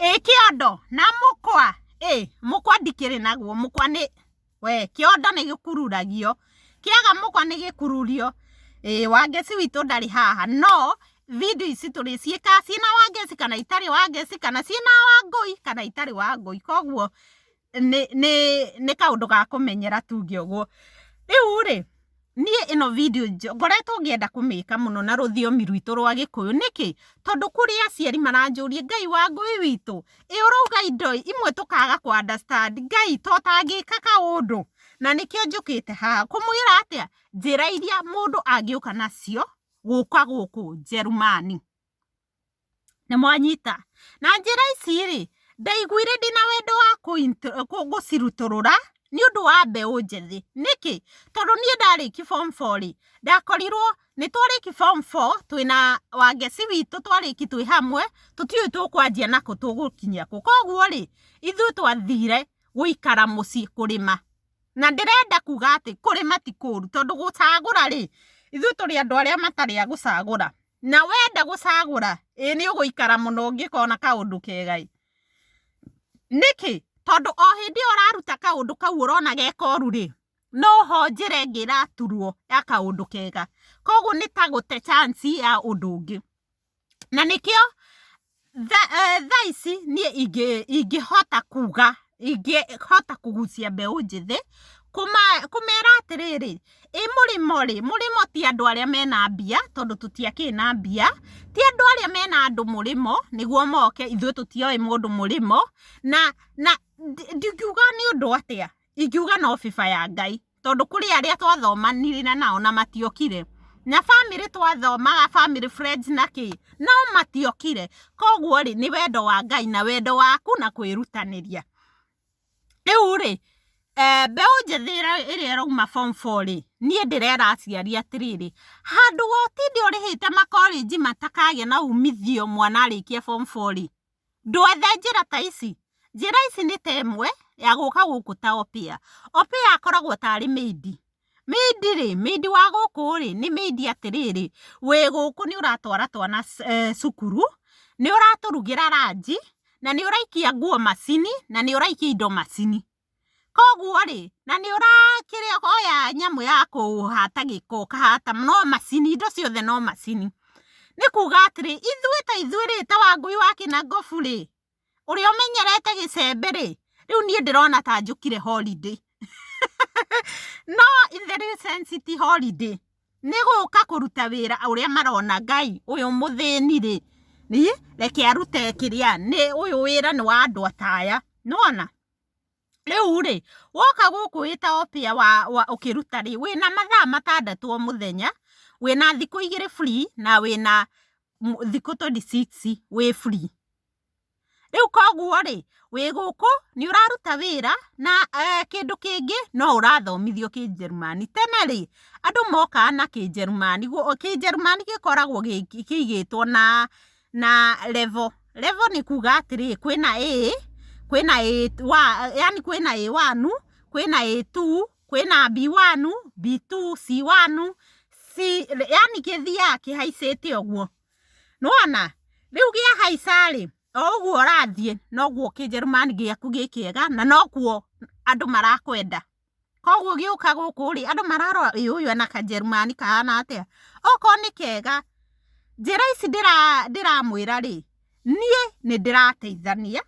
ĩĩ kĩondo na mũkwa ĩĩ mũkwa ndikĩrĩ naguo mũkwa nĩ we kĩondo nĩ gĩkururagio kĩaga mũkwa nĩ gĩkururio ĩĩ wangeci witũ ndarĩ haha no video ici tũrĩciĩkaga ciĩna wangeci kana itarĩ wangeci kana ciĩna wangũi kana itarĩ wangũi koguo nĩ nĩ nĩ kaũndũ ga kũmenyera tuge ũguo. Rĩu rĩ, niĩ ĩno video ngoretwo ngĩenda kũmĩka mũno na rũthiomi rwitũ rwa gĩkũyũ, nĩkĩ? tondũ kũrĩ aciari maranjũria Ngai wa ngũi witũ, ĩ ũrauga indo imwe tũkaga kũ understand, Ngai to ũtangĩka kaũndũ? na nĩkĩo njũkĩte haha, kũmwĩra atĩa? njĩra iria mũndũ angĩũka nacio gũka gũkũ Njerumani. nĩ mwanyita na njĩra ici rĩ, ndaiguire ndĩna wendo wa gũcirutũrũra nĩ ũndũ wa mbeũ njĩthĩ, nĩkĩ? tondũ niĩ ndarĩkia form four rĩ, ndakorirwo, nĩ twarĩkia form four twĩ na Wangeci witũ twarĩkia twĩ hamwe, tũtiũĩ tũkwanjia na kũ tũgũkinya kũ, koguo rĩ, ithuĩ twathire gũikara mũciĩ kũrĩma, na ndĩrenda kuga atĩ kũrĩma ti kũru, tondũ gũcagũra rĩ, ithuĩ tũrĩ andũ arĩa matarĩ a gũcagũra. na wenda gũcagũra ĩĩ nĩ ũgũikara mũno ũngĩkona kaũndũ kega ĩ nĩkĩ tondũ o hĩndĩ ĩyo ũraruta kaũndũ kau ũrona gekoru rĩ noho njĩra ĩngĩ ĩraturwo ya kaũndũ kega koguo nĩtagũte chance ya ũndũ ũngĩ na nĩkĩo Thaa ici niĩ ingĩhota kuga, ingĩhota kũgucia mbeũ njĩthĩ kũmera atĩrĩrĩ, ĩ mũrĩmo rĩ, mũrĩmo ti andũ arĩa mena mbia tondũ tũtiakĩrĩ na mbia, ti andũ arĩa mena andũ mũrĩmo nĩguo moke, ithuĩ tũtiowĩ mũndũ mũrĩmo, na ndingiuga nĩ ũndũ atĩa, Ingiuga no bĩba ya Ngai, tondũ kũrĩ arĩa twathomanire nao na matiokire, na bamĩrĩ twathomaga family friends na kĩĩ, no matiokire, koguo rĩ, nĩ wendo wa Ngai na wendo waku na kwĩrutanĩria. Rĩu rĩ, mbeũ njĩthĩ ĩrĩa ĩrauma form four rĩ, niĩ ndĩrera aciari atĩrĩrĩ, handũ ha ũtinde ũrĩhĩte makorĩnji matakagĩa na umithio mwana arĩkia form four rĩ, Ndwethe njĩra ta ici. Njĩra ici nĩ ta ĩmwe ya gũka gũkũ ta Opiya. Opiya akoragwo tarĩ maid. Maid rĩ, maid wa gũkũ rĩ, nĩ maid atĩrĩrĩ, wĩ gũkũ nĩ ũratwara twana cukuru, nĩ ũratũrugĩra ranji, na nĩ ũraikia nguo macini, na nĩ ũraikia indo macini. Koguo rĩ, na nĩ ũrakĩrĩa oya nyamũ ya kũhata gĩko ũkahata, no macini, indo ciothe no macini. Nĩ kuuga atĩrĩ, ithuĩ ta ithuĩ rĩ, ta Wangũi wa Kĩnangobu rĩ, ũrĩa ũmenyerete gĩcembe rĩ, rĩu niĩ ndĩrona ta njũkire holiday. No in the real sense ti holiday, nĩ gũka kũruta wĩra ũrĩa marona Ngai ũyũ mũthĩni rĩ, reke arute kĩrĩa, ũyũ wĩra nĩ wa andũ ta aya. Nĩ wona? Rĩu rĩ, woka gũkũ wĩ ta opear ũkĩruta rĩ, wĩna mathaa matandatũ o mũthenya, wĩna thikũ igĩrĩ free na wĩna thikũ twenty six wĩ free. Rĩu koguo rĩ, wĩ gũkũ nĩ ũraruta wĩra na kĩndũ kĩngĩ no ũrathomithio Kĩnjĩrĩmani. Tene rĩ, andũ mokaga na Kĩnjĩrĩmani, Kĩnjĩrĩmani gĩkoragwo kĩigĩtwo na na level. Level nĩ kuuga atĩrĩ, kwĩna A, kwĩna A1, yaani kwĩna A1, kwĩna A2, kwĩna B1, B2, C1, C, yaani gĩthiaga kĩhaicĩte ũguo. Nĩ wona? Rĩu kĩahaica rĩ, o ũguo ũrathiĩ, noguo kĩnjerumani gĩaku gĩ kĩega, na noguo andũ marakwenda. Koguo gĩũka gũkũ rĩ, andũ mararora ĩ ũyũ ena kajerumani kahana atĩa, okorwo nĩ kega, njĩra ici ndĩramwĩra rĩ, niĩ nĩ ndĩrateithania,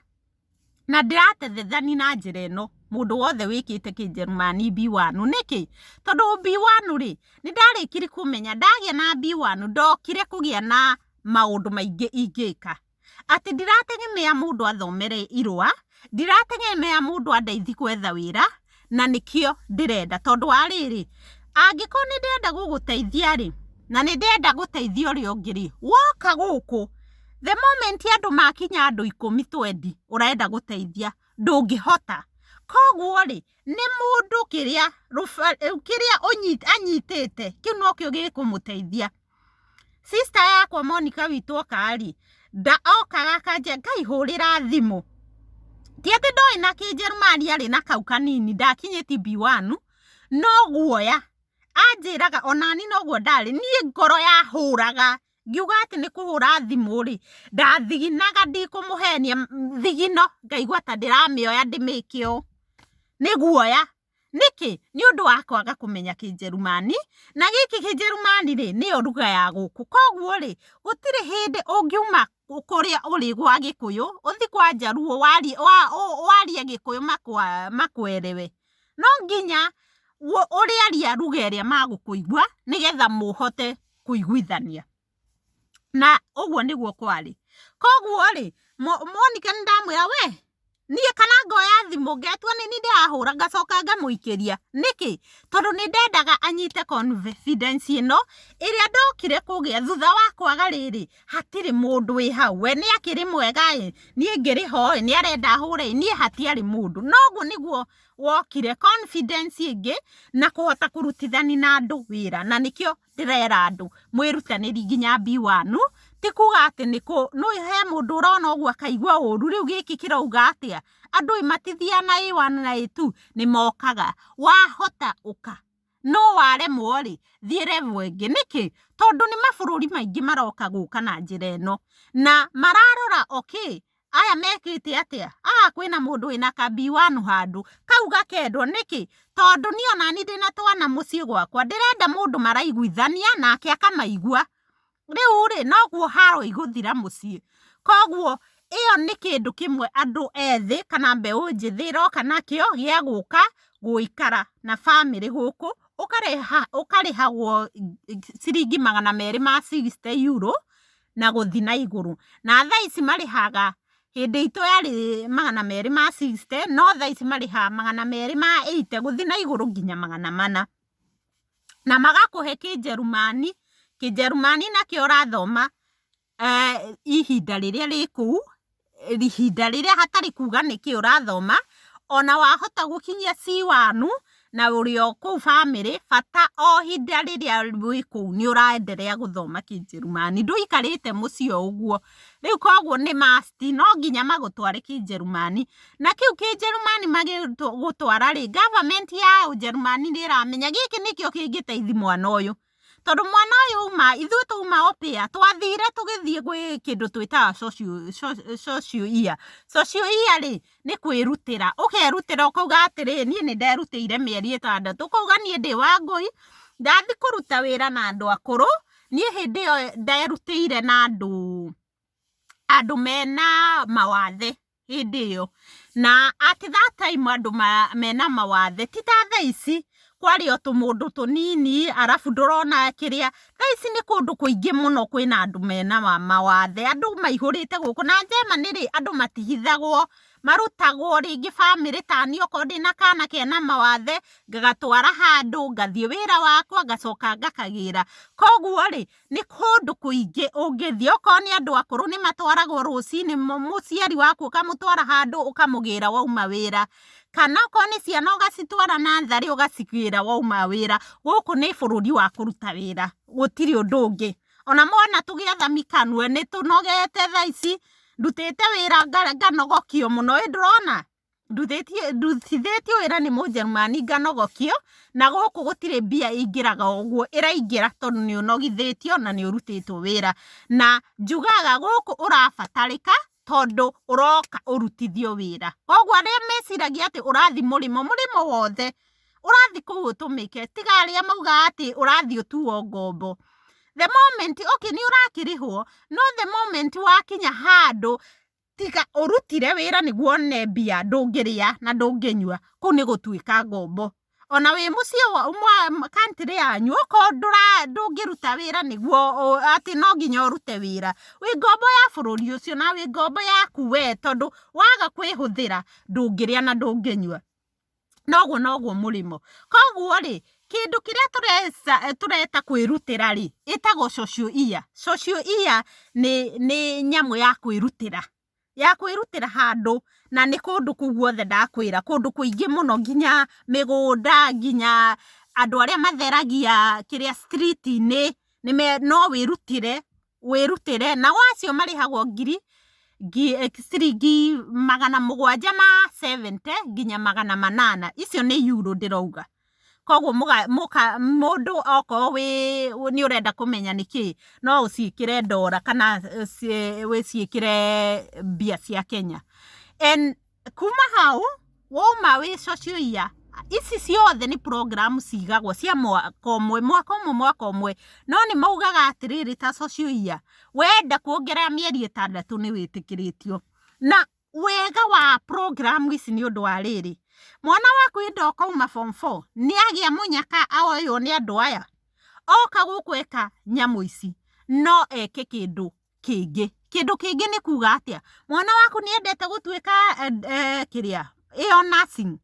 na ndĩrateithania na njĩra ĩno, mũndũ wothe wĩkĩte kĩjerumani B1, nĩkĩ? tondũ B1 rĩ, nĩ ndarĩkirie kũmenya, ndagĩa na B1 ndokire kũgĩa na maũndũ maingĩ ingĩka. atĩ ndirategemea mũndũ athomere irũa, ndirategemea mũndũ andeithie gwetha wĩra, na nĩkĩo ndĩrenda. Tondũ wa rĩrĩ, angĩkorwo nĩ ndĩrenda gũgũteithia rĩ, na nĩ ndĩrenda gũteithia ũrĩa ũngĩ rĩ, woka gũkũ, the moment andũ makinya andũ ikũmi twendi ũrenda gũteithia, ndũngĩhota. Koguo rĩ, nĩ mũndũ kĩrĩa, kĩrĩa anyitĩte, kĩu nokĩo gĩkũmũteithia. Sister yakwa Monica witũ okarĩ, nda okaga akanja ngaihũrĩra thimũ. Ti atĩ ndoĩ na kĩnjerumani arĩ na kau kanini ndakinyĩtie B1, no guoya. Anjĩraga onani noguo ndarĩ, niĩ ngoro yahũraga ngiuga atĩ nĩ kũhũra thimũ rĩ, ndathiginaga ndikũmũhenia thigino ngaigua ta ndĩramĩoya ndĩmĩke ũũ, nĩ guoya. Nĩkĩ? Nĩ ũndũ wa kwaga kũmenya Kĩnjerumani, na gĩkĩ Kĩnjerumani-rĩ, nĩyo ruga ya gũkũ. Koguo-rĩ, gũtirĩ hĩndĩ ũngiuma kũrĩa ũrĩ gwa Gĩkũyũ, ũthiĩ kwa Njaruo warie warie Gĩkũyũ makũerewe. No nginya ũrĩaria ruga ĩrĩa magũkũigua, nĩgetha mũhote kũiguithania. Na ũguo nĩguo kwarĩ. Koguo-rĩ, Monika nĩ ndamwĩra we, niĩ kana ngoya thimũ ngetua nĩ niĩ ndĩrahũra ngacoka ngamũikĩria. Nĩkĩ? Tondũ nĩ ndendaga anyite confidence ĩno ĩrĩa ndokire kũgĩa thutha wa kwaga rĩrĩ, hatirĩ mũndũ wĩ hau. We nĩ akĩrĩ mwega-ĩ, niĩ ngĩrĩ ho-ĩ, nĩ arenda hũre-ĩ, niĩ hatiarĩ mũndũ. Na ũguo nĩguo wokire confidence ĩngĩ na kũhota kũrutithania na andũ wĩra. Na nĩkĩo ndĩrera andũ mwĩrutanĩri nginya B1 ti kuga atĩ nĩ kũ nũ he mũndũ ũrona ũguo akaigua ũru rĩu gĩkĩ kĩrauga atĩa andũ ĩ matithiaga na A1 na A2 nĩ mokaga wahota ũka no waremwo rĩ thiĩ level ĩngĩ nĩkĩ tondũ nĩ mabũrũri maingĩ maroka gũka na njĩra ĩno na mararora okay aya mekĩte atĩa aa kwĩna mũndũ wĩna ka B1 handũ kau gakendwo nĩkĩ tondũ niĩ onani ndĩna twana mũciĩ gwakwa ndĩrenda mũndũ maraiguithania nake akamaigua rĩu rĩ noguo haro igũthira mũciĩ koguo ĩyo nĩ kĩndũ kĩmwe andũ ethĩ kana mbeũ njĩthĩ ĩroka nakĩo gĩa gũka gũikara na bamĩrĩ gũkũ ũkarĩhagwo ciringi magana merĩ ma sixty euro. na gũthi na igũrũ. Na thaa ici marĩhaga, hĩndĩ itũ yarĩ magana merĩ ma sixty, no thaa ici marĩhaga magana merĩ ma eighty gũthi na igũrũ nginya magana mana. Na magakũhe kĩnjerumani, kĩnjerumani nakĩo ũrathoma ihinda rĩrĩa rĩ kũu. ihinda rĩrĩa hatarĩ kuga nĩkĩ ũrathoma, ona wahota gũkinyia C1 na ũrĩ o kũu bamĩrĩ, bata o ihinda rĩrĩa wĩ kũu nĩ ũraenderea gũthoma kĩnjerumani, ndũikarĩte mũciĩ o ũguo, rĩu koguo nĩ must no nginya magũtware kĩnjerumani, na kĩu kĩnjerumani magĩgũtwara rĩ, government ya ũnjerumani nĩ ĩramenya gĩkĩ nĩkĩo kĩngĩteithia mwana ũyũ. Tondũ mwana ũyũ auma, ithuĩ twauma opĩa, twathire tũgĩthiĩ gwĩ kĩndũ twĩtaga social year. Social year rĩ, nĩ kwĩrutĩra. Ũkerutĩra ũkauga atĩrĩ, niĩ nĩ nderutĩire mĩeri ĩtandatũ. Ũkauga niĩ ndĩ Wangũi, ndathiĩ kũruta wĩra na andũ akũrũ, niĩ hĩndĩ ĩyo nderutĩire na andũ. andũ mena mawathe hĩndĩ ĩyo, na at that time andũ mena mawathe ti ta thaa ici kwarĩ o tũmũndũ tũnini arabu ndũrona kĩrĩa, thaa ici nĩ kũndũ kũingĩ mũno kwĩna andũ mena mawathe, andũ maihũrĩte gũkũ, na German rĩ andũ matihithagwo, marutagwo rĩngĩ bamĩrĩ taniĩ okorwo ndĩna kana kena mawathe ngagatwara handũ, ngathiĩ wĩra wakwa ngacoka ngakagĩra, koguo rĩ Nĩ kũndũ kũingĩ ũngĩthiĩ, okorwo nĩ andũ akũrũ nĩ matwaragwo rũcinĩ, mũciari waku ũkamũtwara handũ ũkamũgĩra wauma wĩra, kana okorwo nĩ ciana ũgacitwara natharĩ ũgacigĩra wauma wĩra, gũkũ nĩ bũrũri wa kũruta wĩra gũtirĩ ũndũ ũngĩ, ona mwana tũgĩetha mĩkanue nĩ tũnogete thaa ici, ndutĩte wĩra nganogokio mũno, ĩĩ ndũrona? nduthithĩtio wĩra nĩ mũjerumani nganogokio, na gũkũ gũtirĩ mbia ingĩraga ũguo, ĩraingĩra tondũ nĩ ũnogithĩtio na nĩ ũrutĩtwo wĩra, na njugaga gũkũ ũrabatarĩka tondũ ũroka ũrutithio wĩra, koguo arĩa meciragia atĩ ũrathiĩ mũrĩmo, mũrĩmo wothe, ũrathiĩ kũu ũtũmĩke, tiga arĩa maugaga atĩ ũrathiĩ ũtuo ngombo, the moment, okay nĩ ũrakĩrĩhwo, no the moment wakinya handũ, Tiga ũrutire wĩra nĩguo one mbia ndũngĩrĩa na ndũngĩnyua, kũu nĩ gũtuĩka ngombo. Ona wĩ mũciĩ wa country yanyu okorwo ndũra ndũngĩruta wĩra nĩguo atĩ no nginya ũrute wĩra, wĩ ngombo ya bũrũri ũcio na wĩ ngombo yaku we tondũ waga kwĩhũthĩra ndũngĩrĩa na ndũngĩnyua. noguo noguo mũrĩmo. Koguo rĩ, kĩndũ kĩrĩa tũreta kwĩrutĩra rĩ, ĩtagwo social year. Social year nĩ nyamũ ya kwĩrutĩra, ya kwĩrutĩra handũ na nĩ kũndũ kũu guothe ndakwĩra, kũndũ kũingĩ mũno nginya mĩgũnda, nginya andũ arĩa matheragia kĩrĩa street -inĩ, no wĩrutĩre. wĩrutĩre, nao acio marĩhagwo ngiri, ciringi magana mũgwanja ma seventy nginya magana manana, icio nĩ yuro ndĩrauga, koguo mũndũ okorwo wĩ nĩ ũrenda kũmenya nĩkĩĩ, no ũciĩkĩre ndora kana wĩciĩkĩre mbia cia Kenya. Kuma hau, wauma wĩ social year, ici ciothe nĩ program cigagwo cia mwaka ũmwe, mwaka ũmwe, mwaka ũmwe. No nĩ maugaga atĩrĩrĩ ta social year, wenda kuongerera mĩeri ĩtandatũ nĩ wĩtĩkĩrĩtio. Na wega wa program ici nĩ ũndũ wa rĩrĩ, mwana waku hĩndĩ ĩyo ũkauma form four, nĩ agĩa mũnyaka oywo nĩ andũ aya, oka gũkũ eka nyamũ ici, no eke kĩndũ kĩngĩ. Kĩndũ kĩngĩ nĩ kuga atĩa? Mwana waku nĩ endete gũtuĩka kĩrĩa? ĩyo nursing?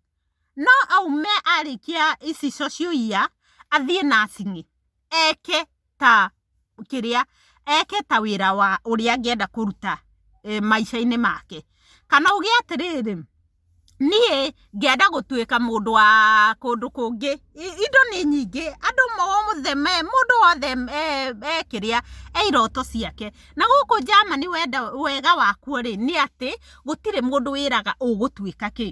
No aume arĩkia ici social year athiĩ nursing eke ta kĩrĩa? Eke ta wĩra wa ũrĩa angĩenda kũruta maica-inĩ make. Kana uge atĩrĩrĩ... niĩ ngĩenda gũtuĩka mũndũ wa kũndũ kũngĩ, indo nĩ nyingĩ, andũ mothe, mũndũ wothe e kĩrĩa, e iroto ciake, na gũkũ Germany wega wakuo rĩ, nĩ atĩ gũtirĩ mũndũ wĩraga ũgũtuĩka kĩ,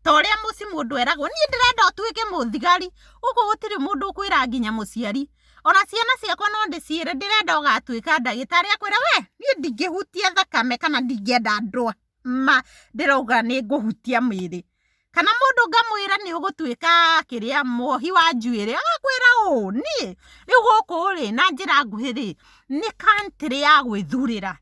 ta ũrĩa mũciĩ mũndũ eragwo, niĩ ndĩrenda ũtuĩke mũthigari, gũkũ gũtirĩ mũndũ ũkwĩraga nginya mũciari, ona ciana ciakwa no ndĩciĩre ndĩrenda ũgatuĩka ndagĩtarĩ, akwĩre we, niĩ ndingĩhutia thakame kana ndingĩenda ndware. ma ndĩrauga nĩ ngũhutia mwĩrĩ kana mũndũ ngamwĩra nĩ ũgũtuĩka kĩrĩa muohi wa njuĩrĩ agakwĩra ũũ niĩ rĩu gũkũ rĩ na njĩra nguhĩ rĩ nĩ country ya gwĩthurĩra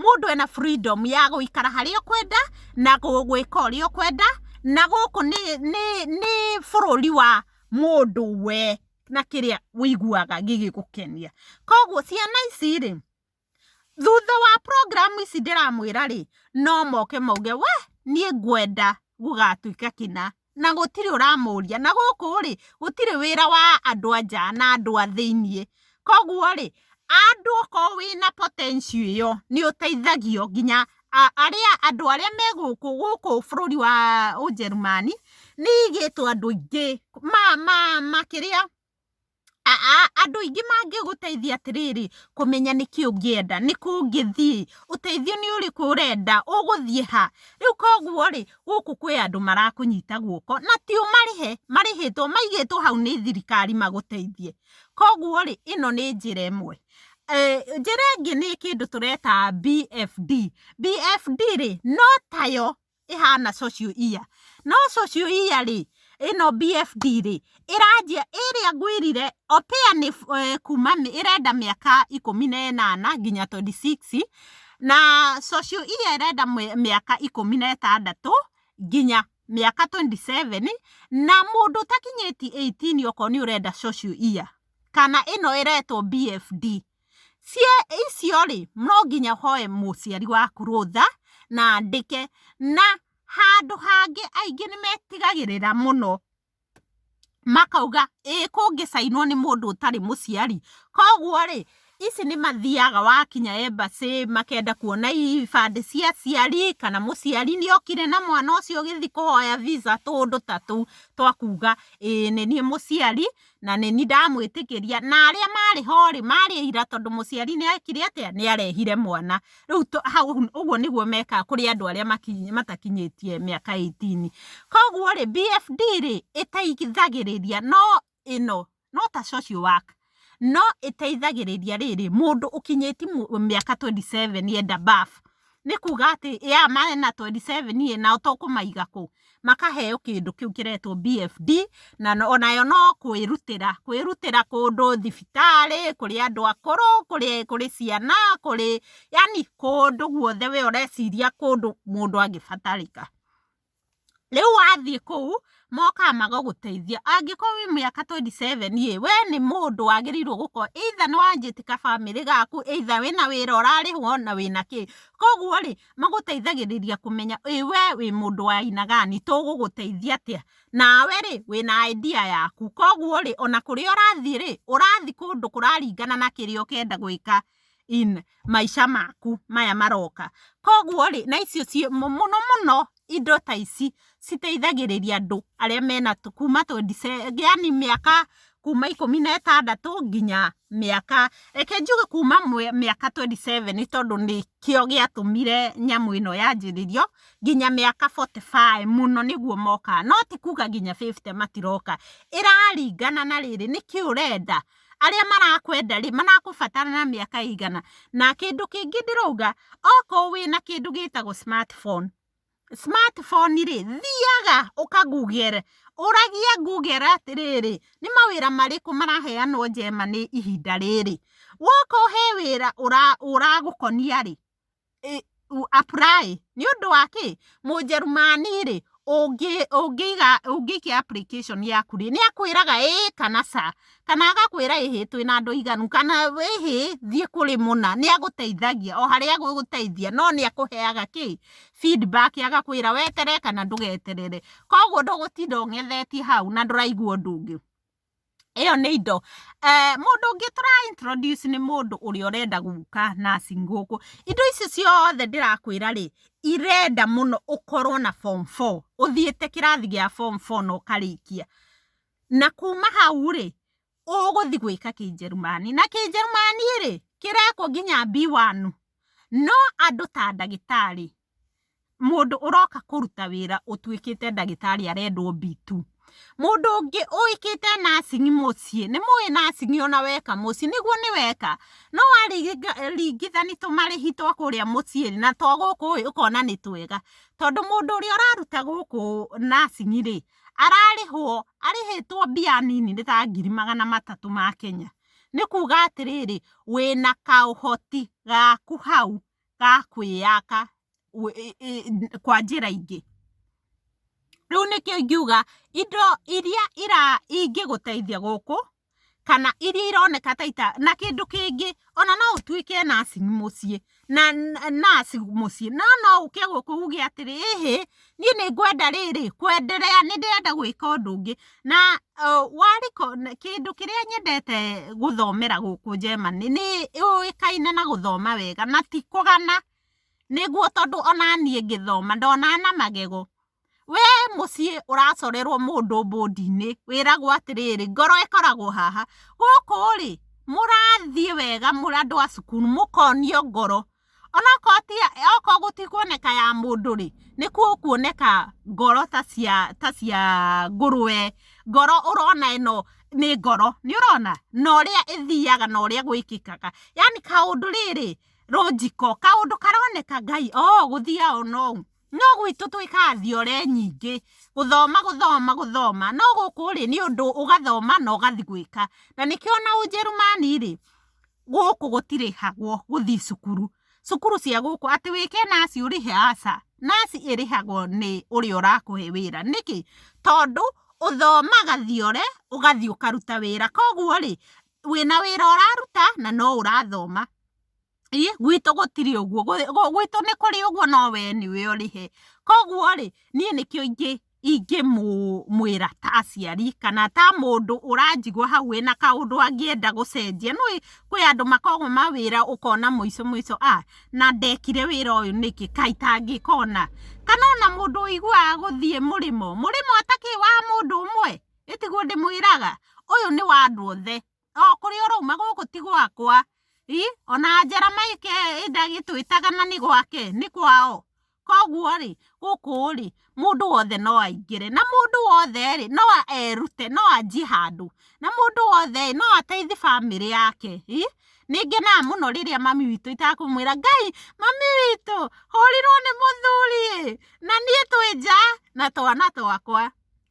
mũndũ ena freedom ya gũikara harĩa ũkwenda na gwĩka ũrĩa ũkwenda na gũkũ nĩ nĩ nĩ bũrũri wa mũndũ we na kĩrĩa wĩiguaga gĩgĩgũkenia koguo ciana ici rĩ Thutha wa program ici ndĩramwĩra rĩ, no moke mauge we niĩ ngwenda gũgatuĩka kĩna, na gũtirĩ ũramũria, na gũkũ rĩ, gũtirĩ wĩra wa andũ a nja na andũ a thĩiniĩ, koguo rĩ, andũ okorwo wĩna potential ĩyo, nĩ ũteithagio nginya arĩa andũ arĩa me gũkũ, gũkũ bũrũri wa Ũjerũmani, nĩ ĩigĩtwo andũ aingĩ ma ma makĩria Aa andũ aingĩ mangĩgũteithia atĩrĩrĩ, kũmenya nĩkĩĩ ũngĩenda, nĩkũ ũngĩthiĩ, ũteithio nĩ ũrĩkũ ũrenda, ũgũthiĩ ha? Rĩu koguo rĩ, gũkũ kwĩ andũ marakũnyita guoko, na ti ũmarĩhe, marĩhĩtwo, maigĩtwo hau nĩ thirikari magũteithie. Koguo rĩ, ĩno nĩ njĩra ĩmwe. Njĩra ĩngĩ nĩ kĩndũ tũreta BFD. BFD rĩ, no tayo ĩhana social year. No social year rĩ, ĩno BFD rĩ, ĩranjia ĩrĩa ngwĩrire Oppia nĩ kuuma nĩ ĩrenda mĩaka ikũmi na ĩnana nginya twenty six, na social year ĩrenda mĩaka ikũmi na ĩtandatũ nginya mĩaka twenty seven, na mũndũ ũtakinyĩtie eighteen okorwo nĩ ũrenda social year, kana ĩno ĩretwo BFD. Cie icio rĩ, no nginya hoe mũciari waku rũtha na andĩke, na handũ hangĩ aingĩ nĩ metigagĩrĩra mũno makauga ĩ kũngĩ cainwo nĩ mũndũ ũtarĩ mũciari, koguo rĩ, ici nĩ mathiaga wakinya embassy makenda kuona ibandĩ cia aciari kana mũciari nĩ okire na mwana ũcio ũgĩthiĩ kũhoya visa tũũndũ ta tũu twa kuga ĩ nĩ niĩ mũciari na nĩ ni ndamwĩtĩkĩria na arĩa marĩ ho rĩ marĩ ira tondũ mũciari nĩ ekire atĩa nĩ arehire mwana rĩu ũguo nĩguo mekaga kũrĩ andũ arĩa matakinyĩtie mĩaka 18 koguo rĩ BFD rĩ ĩteithagĩrĩria no ĩno no ta social work no ĩteithagĩrĩria rĩrĩ mũndũ ũkinyĩtie mĩaka 27 enda birth nĩ kuga atĩ ya mena 27 ĩ nao to kũmaiga kũ? Makaheo kĩndũ kĩu kĩretwo BFD, na onayo no kwĩrutĩra, kwĩrutĩra kũndũ thibitarĩ, kũrĩ andũ akũrũ, kũrĩ kũrĩ ciana, kũrĩ yani kũndũ guothe we ũreciria kũndũ mũndũ angĩbatarĩka. Rĩu wathiĩ kũu mokaga magagũteithia. Angĩkorwo wĩ mĩaka twenty seven ĩ, we nĩ mũndũ wagĩrĩirwo gũkorwo either nĩ wanjĩtie gabamĩrĩ gaku, either wĩna wĩra ũrarĩhwo na wĩna kĩ. Koguo rĩ, magũteithagĩrĩria kũmenya ĩ we wĩ mũndũ wa aina gani, tũgũgũteithia atĩa. Nawe rĩ, wĩna idea yaku. Koguo rĩ, ona kũrĩa ũrathiĩ rĩ, ũrathiĩ kũndũ kũraringana na kĩrĩa ũkwenda gwĩka. in maica maku maya maroka koguo rĩ na icio ciĩ mũno mũno indo ta ici citeithagĩrĩria andũ arĩa mena kuma 27 yani mĩaka kuma ikũmi na ĩtandatũ nginya mĩaka reke njuge kuma mĩaka 27 nĩ tondũ nĩkĩo gĩatũmire nyamũ ĩno yanjĩrĩrio nginya mĩaka 45 mũno nĩguo mokaga no tikuga nginya 50 matiroka, ĩraringana na rĩrĩ nĩkĩ ũrenda arĩa marakwenda rĩ marakũbatara na mĩaka igana na kĩndũ kĩngĩ ndĩrauga okorwo wĩna kĩndũ gĩtagwo smartphone smartphone rĩ thiaga ũka google ũragia google atĩrĩrĩ nĩ mawĩra marĩkũ maraheanwo Germany ihinda rĩrĩ woka ũhe wĩra ũragũkonia rĩ u apply nĩ ũndũ wa kĩ? Mũnjerumani rĩ, ũngĩiga ũngĩikia application yaku rĩ, nĩ akwĩraga ĩĩ kana ca. Kana agakwĩra ĩhĩ twĩ na andũ aiganu, kana ĩhĩ thiĩ kũrĩ mũna. Nĩ agũteithagia o harĩa agũgũteithia no nĩ akũheaga kĩ? Feedback agakwĩra weterere kana ndũgeterere. Kũguo ndũgũtinda ũng'ethetie hau na ndũraigua ũndũ ũngĩ. ĩyo nĩ indo. Eh, mũndũ ũngĩ tũra introduce nĩ mũndũ ũrĩa ũrenda gũka nursing gũkũ. Indo ici ciothe ndĩrakwĩra rĩ, irenda mũno ũkorwo na form four, ũthiĩte kĩrathi gĩa form four na ũkarĩkia. Na kuma hau rĩ, ũgũthi gwĩka kĩnjerumani. Na kĩnjerumani rĩ, kĩrekwo nginya B1. No andũ ta ndagĩtarĩ, Mũndũ ũroka kũruta wĩra ũtuĩkĩte ndagĩtarĩ arendwo B2. Mũndũ ũngĩ ũĩkĩte nursing mũciĩ, nĩ mũĩ nursing ona weka mũciĩ, nĩguo nĩ weka? No waringithania tũmarĩhi twa kũrĩa mũciĩ rĩ, na twa gũkũ ĩ, ũkona nĩ twega. Tondũ mũndũ ũrĩa ũraruta gũkũ nursing rĩ, ararĩhwo, arĩhĩtwo mbia nini nĩ ta ngiri magana matatũ ma Kenya. Nĩ kuuga atĩrĩrĩ, wĩna kaũhoti gaku hau. ga kwĩyaka kwa njĩra ingĩ. Rĩu nĩkĩo ingiuga indo iria ingĩgũteithia gũkũ kana iria ironeka ta ita, na kĩndũ kĩngĩ ona no ũtuĩke naci mũciĩ, naci mũciĩ no no ũke gũkũ uge atĩrĩ ĩhĩ Niĩ nĩ ngwenda rĩrĩ, kwenderea, nĩ ndĩrenda gwĩka ũndũ ũngĩ, na kĩndũ kĩrĩa nyendete gũthomera gũkũ Germany, nĩ yũĩkaine na gũthoma wega na ti kũgana, nĩguo tondũ o na niĩ ngĩthoma ndonaga na magego. We mũciĩ ũracorerwo mũndũ mbũndi-inĩ, wĩragwo atĩrĩrĩ, ngoro ĩkoragwo haha, gũkũ rĩ, mũrathiĩ wega mũrĩ andũ a cukuru, mũkonio ngoro, Onokorwo ti, okorwo gũtikuoneka ya mũndũ rĩ, nĩ gũkuoneka ngoro ta cia, ta cia ngũrũwe, ngoro ũrona ĩno nĩ ngoro, nĩ ũrona? Na ũrĩa ĩthiaga na ũrĩa gwĩkĩkaga, yani kaũndũ rĩrĩ, rũnjiko, kaũndũ karoneka Ngai oo gũthiaga o na ũũ, no gwitũ twĩkaga thiore nyingĩ, gũthoma, gũthoma, gũthoma, no gũkũ rĩ, nĩ ũndũ ũgathoma na ũgathi gwĩka, na nĩkĩo o na Ũnjĩrĩmani rĩ... gũkũ gũtirĩhagwo gũthiĩ cukuru cukuru cia gũkũ atĩ wĩke naci ũrĩhe aca naci ĩrĩhagwo nĩ ũrĩa ũrakũhe wĩra nĩkĩ? Tondũ ũthomaga thiore ũgathiĩ ũkaruta wĩra kwoguo rĩ wĩna wĩra ũraruta na no ũrathoma ĩ gwitũ gũtirĩ ũguo gwitũ nĩ kũrĩ ũguo no we nĩwe ũrĩhe kwoguo rĩ niĩ nĩkĩo ingĩ... ingĩmwĩra ta aciari kana ta mũndũ ũranjigua hau wĩna kaũndũ angĩenda gũcenjia. Nĩ ũĩ kwĩ andũ makoragwo na wĩra ũkona mũico mũico a na ndekire wĩra ũyũ nĩkĩ, kaĩ itangĩka ũna. Kana ona mũndũ ũiguaga gũthiĩ mũrĩmo, mũrĩmo atakĩrĩ wa mũndũ ũmwe, ĩ tiguo ndĩmwĩraga? Ũyũ nĩ wa andũ othe. o kũrĩa ũrauma gũkũ ti gwakwa i ona njera maike ndagĩtwĩtaga na nĩ gwake nĩ kwao kwoguo rĩ gũkũ rĩ mũndũ wothe no aingĩre na mũndũ wothe rĩ no erute no anjie handũ na mũndũ wothe no ateithie bamĩrĩ yake i nĩngenaga mũno rĩrĩa mami witũ itakũmwĩra Ngai mami witũ hũrirwo nĩ mũthuri ĩ na niĩ twĩ nja na twana twakwa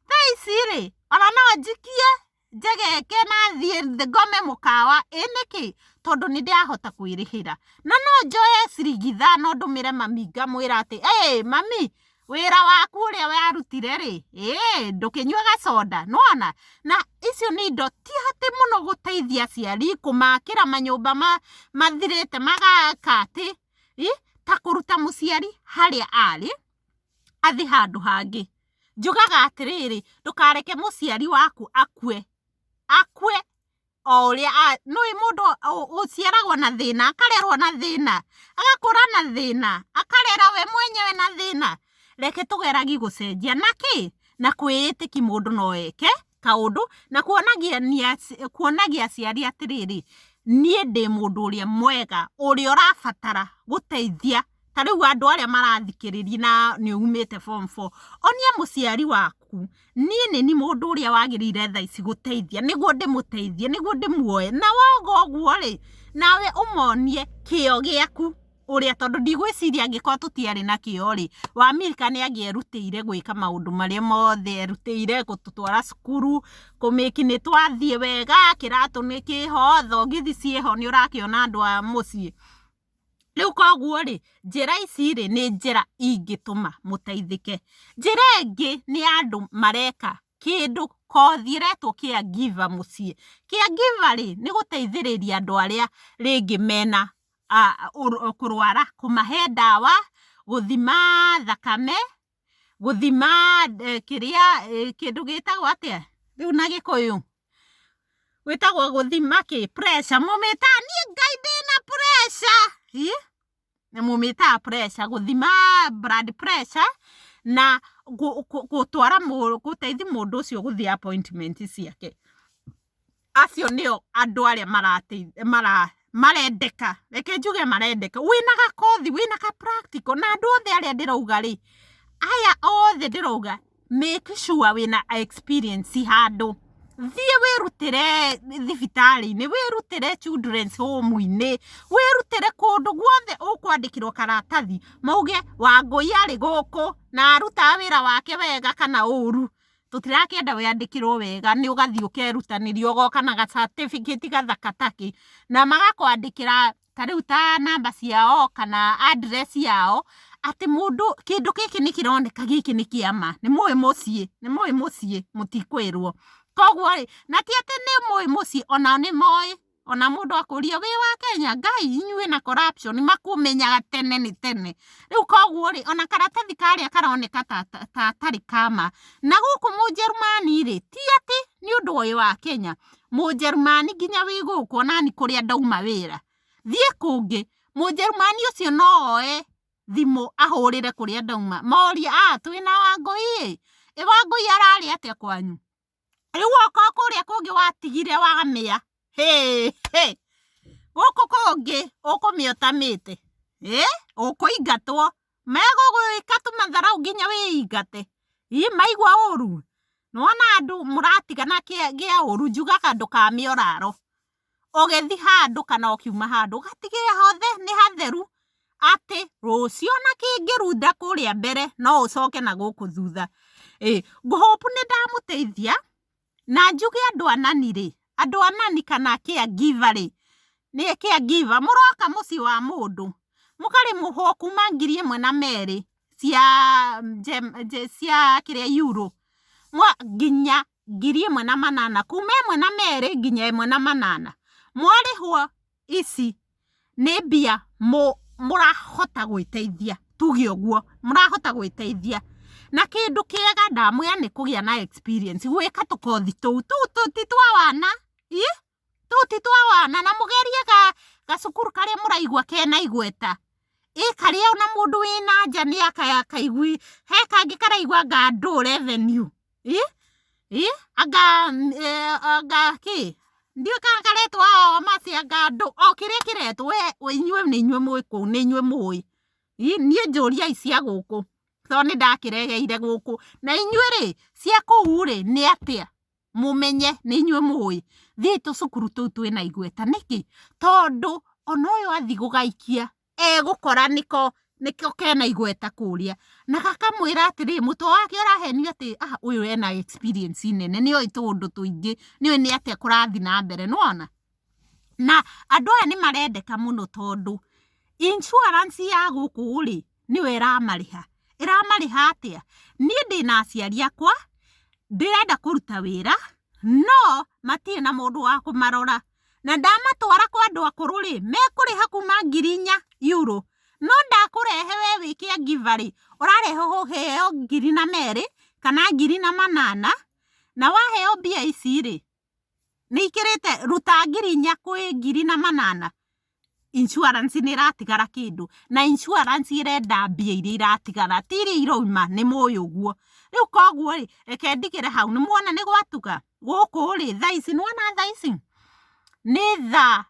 thaa ici rĩ ona no njikie. njegeke na thiĩ ngome mũkawa ĩ nĩkĩ tondũ nĩ ndĩrahota kwĩrĩhĩra na no njoe ciringi ithano ndũmĩre mami ngamwĩra atĩ ĩ mami wĩra waku ũrĩa warutire rĩ ĩ ndũkĩnyue gaconda nĩwona na icio nĩ indo ti atĩ mũno gũteithia aciari kũmakĩra manyũmba ma mathirĩte magaka atĩ ĩ ta kũruta mũciari harĩa arĩ athiĩ handũ hangĩ Njugaga atĩrĩrĩ, ndũkareke mũciari waku akue, akue o ũrĩa, nĩũĩ mũndũ ũciaragwo na thĩna, akarerwo na thĩna, agakũra na thĩna, akarera we mwenyewe na thĩna, reke tũgeragi gũcenjia na kĩ, na kwĩĩtĩki mũndũ no eke kaũndũ, na kuonagia aciari atĩrĩrĩ, niĩ ndĩ mũndũ ũrĩa mwega, ũrĩa ũrabatara gũteithia. ta rĩu andũ arĩa marathikĩrĩria na nĩ umĩte form four, onia mũciari waku niĩ nĩ niĩ mũndũ ũrĩa wagĩrĩire thaa ici gũteithia nĩguo ndĩmũteithie, nĩguo ndĩmuoye. Na woiga ũguo rĩ, nawe ũmonie kĩo gĩaku ũrĩa tondũ ndigwĩciria angĩkorwo tũtiarĩ na kĩo rĩ, Wamika nĩ angĩerutĩire gwĩka maũndũ marĩa mothe erutĩire, gũtũtwara cukuru, kũ make nĩ twathiĩ wega, kĩratũ nĩ kĩho, thogithi ciĩho nĩ ũrakĩona andũ a mũciĩ. Rĩu koguo rĩ, njĩra ici rĩ, nĩ njĩra ingĩtũma mũteithĩke. Njĩra ĩngĩ nĩ ya andũ mareka kĩndũ kothi ĩretwo care giver mũciĩ. Care giver rĩ, nĩ gũteithĩrĩria andũ arĩa rĩngĩ mena kũrwara, kũmahe ndawa, gũthima thakame, gũthima eh, kĩrĩa eh, kĩndũ gĩtagwo atĩa rĩu na gĩkũyũ gwĩtagwo gũthima kĩ pressure mũmĩtaa niĩ ngai ndĩna pressure Ĩ? na mũmĩtaa pressure gũthima blood pressure na gũ- gũ- gũtwara mũ- gũteithia mũndũ ũcio gũthiĩ appointment ciake acio nĩo andũ arĩa marateithia mara marendeka reke njuge marendeka wĩna gakothi wĩna ka practical na andũ othe arĩa ndĩrauga rĩ aya othe ndĩrauga make sure wĩna experience handũ thiĩ wĩrutĩre thibitarĩ-inĩ wĩrutĩre children's home -inĩ wĩrutĩre kũndũ guothe ũkwandĩkĩrwo karatathi mauge wangũi arĩ gũkũ na arutaga wĩra wake wega kana ũru. tũtirakĩenda wĩandĩkĩrwo wega nĩ ũgathiĩ ũkerutanĩria ũgoka na ga certificate gathaka takĩ na magakwandĩkĩra ta rĩu ta namba ciao kana address yao atĩ mũndũ kĩndũ gĩkĩ nĩ kĩroneka gĩkĩ nĩ kĩa ma nĩ mũĩ mũciĩ nĩ mũĩ mũciĩ mũtikwĩrwo kwoguo rĩ na ti atĩ nĩ mũĩ mũciĩ onao nĩ moĩ. ona mundu akuria wi wa Kenya ngai inyuĩ na corruption makũmenyaga tene nĩ tene rĩu koguo rĩ ona karatathi karĩa karoneka ta gatarĩ kama na gũkũ mũjerumani rĩ ti atĩ nĩ ũndũ ũyũ wa Kenya mũjerumani nginya wĩ gũkũ onani kũrĩa ndauma wĩra thiĩ kũngĩ mũjerumani ũcio no oe thimũ ahũrĩre kũrĩa ndauma morie aa twĩna wangũi ĩ, ĩ wangũi ararĩ atĩa kwanyu rĩu woka kũrĩa kũngĩ watigire wamĩa gũkũ kũngĩ ũkũmĩa ũtamĩte ũkũingatwo megũgwĩka tũmatharaũ nginya wĩingate ii maigua ũru nĩwona andũ mũratigana kĩa ũru njugaga ndũkamĩe ũrarwo. ũgĩthi handũ kana ũkiuma handũ ũgatigĩrĩra hothe nĩ hatheru atĩ rũciũ ona kĩngĩrunda kũrĩa mbere no ũcoke na gũkũ thutha. Ĩ ngũ hope nĩ ndamũteithia na njuge andũ a nani rĩ, andũ a nani kana care giver rĩ, nĩ care giver mũroka mũciĩ wa mũndũ mũkarĩhwo kuma ngiri ĩmwe na merĩ cia kĩrĩa Euro nginya ngiri ĩmwe na manana kuma ĩmwe na merĩ nginya ĩmwe na manana mwarĩhwo ici nĩ mbia mũrahota gwĩteithia tuge ũguo mũrahota gwĩteithia na kĩndũ kĩega ndamwĩra nĩ kũgĩa na experience gwĩka tũkothi tũu tũu ti twa wana. tũti twa wana na mũgerie ga gacukuru karĩa mũraigua kena igweta ĩ karĩa ona mũndũ wĩ na nja nĩ akaigui he kangĩ karaigua anga ndũ revenue ĩ ĩ anga anga kĩ ndiũĩ kana karetwo ao mati anga ndũ o kĩrĩa kĩretwo we inyuĩ nĩ inyuĩ mũĩ kũu nĩ inyuĩ mũĩ ĩ niĩ njũriai cia gũkũ tondũ nĩndakĩregeire gũkũ na inyuĩ rĩ cia kũu rĩ nĩ atĩa. mũmenye nĩ inyuĩ mũĩ thiĩi tũcukuru tũu twĩna igweta nĩkĩ tondũ ona ũyũ athiĩ gũgaikia egũkora nĩko nĩko kena igweta kũrĩa na gakamwĩra atĩrĩ mũtwe wake ũrahenio atĩ ah ũyũ ena experience nene nĩoĩ tũũndũ tũingĩ nĩoĩ nĩ atĩa kũrathiĩ na mbere nĩwona. Na andũ aya nĩ marendeka mũno tondũ insurance ya gũkũ rĩ, nĩyo ĩramarĩha. Ĩramarĩha atĩa? Niĩ ndĩna aciari akwa, ndĩrenda kũruta wĩra, no matirĩ na mũndũ wa kũmarora. Na ndamatwara kwa andũ akũrũ rĩ, mekũrĩha kuuma ngiri inya euro. No ndakũrehe we wĩ caregiver rĩ, ũrarehe ũheo ngiri na merĩ, kana ngiri na manana, na waheo mbia ici rĩ, nĩ ikĩrĩte ruta ngiri inya kwĩ ngiri na manana insurance nĩ ĩratigara kĩndũ na insurance ĩrenda mbia iria iratigara ti iria irauma nĩ mũĩ ũguo, rĩu koguo rĩ reke ndigĩre hau nĩ muona nĩ gwatuka gũkũ rĩ thaa ici nĩ wona thaa ici nĩ thaa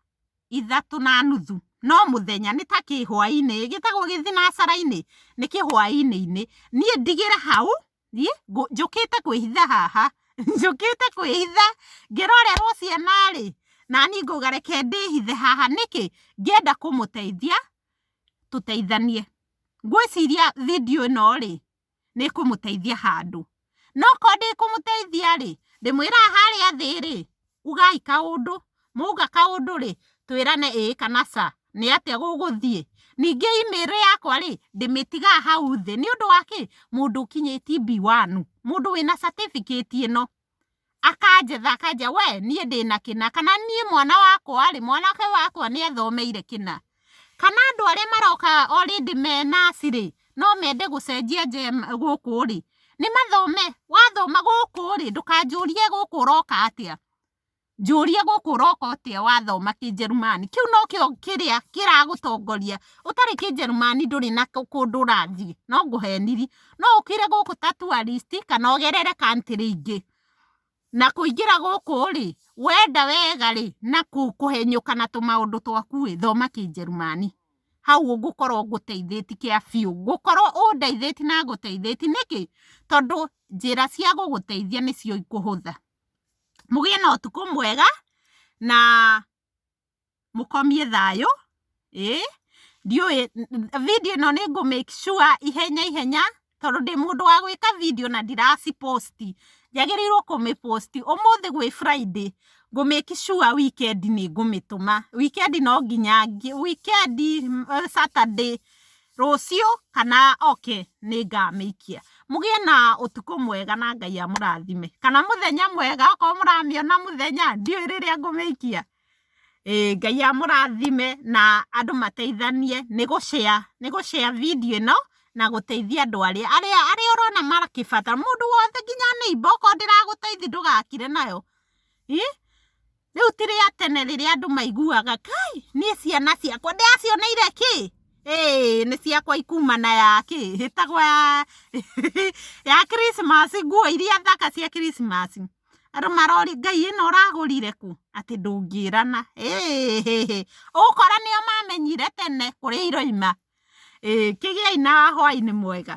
ithatũ na nuthu no mũthenya nĩ ta kĩhwainĩ gĩtagwo gĩthinacara-inĩ nĩ kĩhwainĩ-inĩ niĩ ndigĩre hau. thiĩ ngũ- njũkĩte kwĩhitha haha njũkĩte kwĩhitha ngĩrorerwo ciana rĩ nani ngauga reke ndĩhithe haha nĩkĩ ngĩenda kũmũteithia tũteithanie ngwĩciria video ĩno rĩ nĩkũmũteithia handũ no korwo ndĩkũmũteithia rĩ ndĩmwĩraga harĩa thĩ rĩ ugai kaũndũ, mwauga kaũndũ rĩ, twĩrane ĩĩ kana ca, nĩ atĩa gũgũthiĩ. Ningĩ email yakwa rĩ, ndĩmĩtigaga hau thĩ, nĩ ũndũ wa kĩ? Mũndũ ũkinyĩtie B1, mũndũ wĩna certificate ĩno, akanjetha akanjia we, niĩ ndĩna kĩna, kana niĩ mwana wakwa rĩ, mwanake wakwa nĩ athomeire kĩna. Kana andũ arĩa maroka already me naci rĩ, no mende gũcenjia gũkũ rĩ, nĩ mathome. Wathoma gũkũ rĩ, ndũkanjũrie gũkũ ũroka atĩa. Njũria gũkũ ũroka atĩa wathoma Kĩnjerumani. Kĩu no kĩo kĩrĩa kĩragũtongoria. Ũtarĩ Kĩnjerumani ndũrĩ na kũndũ ũrathiĩ. No ngũheniri. No ũkĩre gũkũ ta tourist kana ũgerere country ingĩ. Na kũingĩra gũkũ-rĩ, wenda wega-rĩ, na kũhenyũka na tũmaũndũ twaku-ĩ, thoma kĩnjerumani, hau ngũkorwo ngũteithĩtie kĩa biũ, ngũkorwo ũndeithĩtie na ngũteithĩtie, nĩkĩ? Tondũ njĩra cia gũgũteithia nĩcio ikũhũtha. Mũgĩe na ũtukũ mwega, na. mũkomie thayũ ĩĩ ndiũĩ video ĩno nĩ ngũ make sure ihenya ihenya tondũ ndĩ mũndũ wa gwĩka video na ndiraci post njagĩrĩirwo kũmĩ post ũmũthĩ gwĩ Friday ngũ make sure weekend nĩ ngũmĩtũma weekend no nginya weekend Saturday rũciũ kana oke nĩ ngamĩikia mũgĩe na ũtukũ mwega na Ngai amũrathime kana mũthenya mwega okorwo mũramĩona mũthenya ndiũĩ rĩrĩa ngũmĩikia. Ĩĩ Ngai amũrathime na andũ mateithanie nĩ gũ share, nĩ gũ share video ĩno na gũteithia andũ arĩa, arĩa, arĩa ũrona makĩbatara, mũndũ wothe nginya neighbour okorwo ndĩragũteithia ndũgakire nayo, ĩ, rĩu ti rĩa tene rĩrĩa andũ maiguaga kai niĩ ciana ciakwa ndĩracioneire kĩ, ĩĩ nĩ ciakwa ikuma na ya kĩ, ĩtagwo ya, ya Christmas nguo iria thaka cia Christmas. andũ maroria ngai ĩno ũragũrire kũ atĩ ndũngĩrana ũgũkora nĩo mamenyire tene kũrĩa iroima kĩgĩai na hwainĩ mwega.